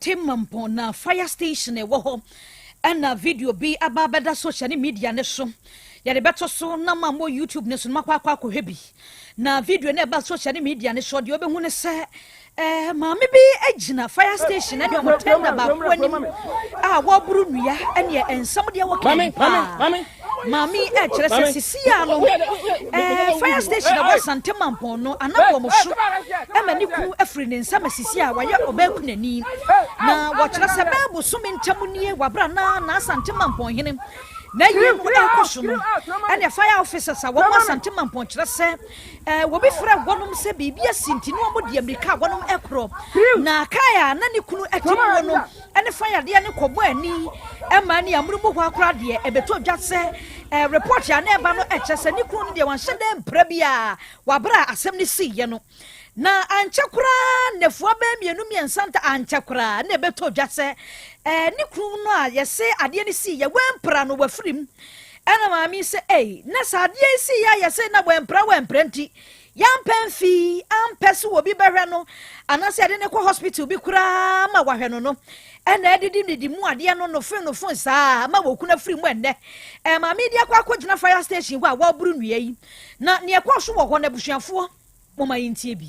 Temmampong na fire station a ɛwɔ hɔ na video bi aba abɛda social ne media no so. Yɛde bɛto so na ma mo YouTube no so no makɔ akɔ akɔhwɛ bi. Na video no ɛba social ne media no so deɛ wobɛhu ne sɛ eh, maame bi gyina fire station ne ɔmo tenda baako anim a wɔboro nnua ɛneɛ nsɛm deɛ wɔka paa. Maame yi ɛkyerɛ sɛ sisi a no ɛɛ fire station ɛwɔ Asante Mampɔn no anabɔ mo so ɛma ne kunu ɛfiri ne nsa ma sisi a wayɛ ɔbaa kunani na wɔkyerɛ sɛ bɛɛ bosome ntɛm nie wabra na na Asante Mampɔn hene na yie no ɛkɔ so no ɛna fire officers a wɔn Asante Mampɔn kyerɛ sɛ ɛɛ wɔbi frɛ wɔnom sɛ biribi asi nti no wɔn deɛ mirika wɔnom ɛkorɔ na kaa a na ne kunu ɛte mu no ne fa yadeɛ no kɔ bɔ ani ma ne amunu mu hɔ ara koraa deɛ, ɛbɛtɔ dwa sɛ eh, report a na ɛba no kyerɛ sɛ ne kunu no deɛ wanhyɛ dɛ mpira bi a wɔabrɛ a asɛm no siiɛ no. Na ankyɛ koraa nnafua bɛyɛ mmienu mmiɛnsa nta ankyɛ koraa na ɛbɛtɔ dwa sɛ eh, ne kunu no a yɛse adeɛ no siiɛ wampira no wafiri mu. Ɛna maame sɛ ei, na sɛ adeɛ yi siiɛ a yɛse na wampira wampira nti Yɛampɛ mfii ampɛ so obi bɛhwɛ no anaasɛ yɛde no kɔ hospital bi koraa ma wahwɛ no no, ɛna adidi didi mu adeɛ no nofoe nofoe saa a ama wɔkunu afiri mu ɛnnɛ. Ɛma medi akɔ akɔgyina fire station hɔ a wɔaboro nnua yi, na nea ɛkɔɔ so wɔ hɔ no, abusuafoɔ, momma yɛntie bi.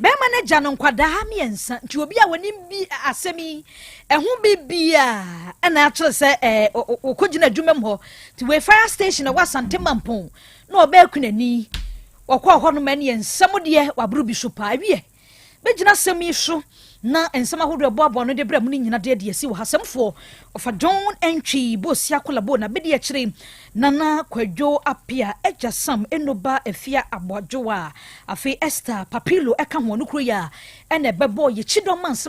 Bɛrima no agya no nkwadaa mmiɛnsa nti obi a wɔnim bi asɛm yi ɛho biribiara ɛna akyerɛ sɛ ɛɛ ɔkɔgyina adwuma mu hɔ ti wei fire station ɛwɔ asante mampɔn na ɔbɛɛku n'ani ɔkɔɔ hɔ nom ɛneɛ nsɛm deɛ waboro bi so paa wiɛ bɛgyina asɛm yi so na nsɛm ahodoɔ a ɛboaboa ano de brɛ mo no nyina de adi asi wɔ ha. Asɛmfoɔ, Ɔfa John Antwi, Bosia Akolabo, na Abedi Akyire, Nana Kwadwo Appiah, Agya Sam, Eno Ba Afia Aboadwowa, afei Esther Papillo ka ho, ɔno kuro yi a ɛna ɛbɛbɔɔ yɛn kyidɔm a nsɛm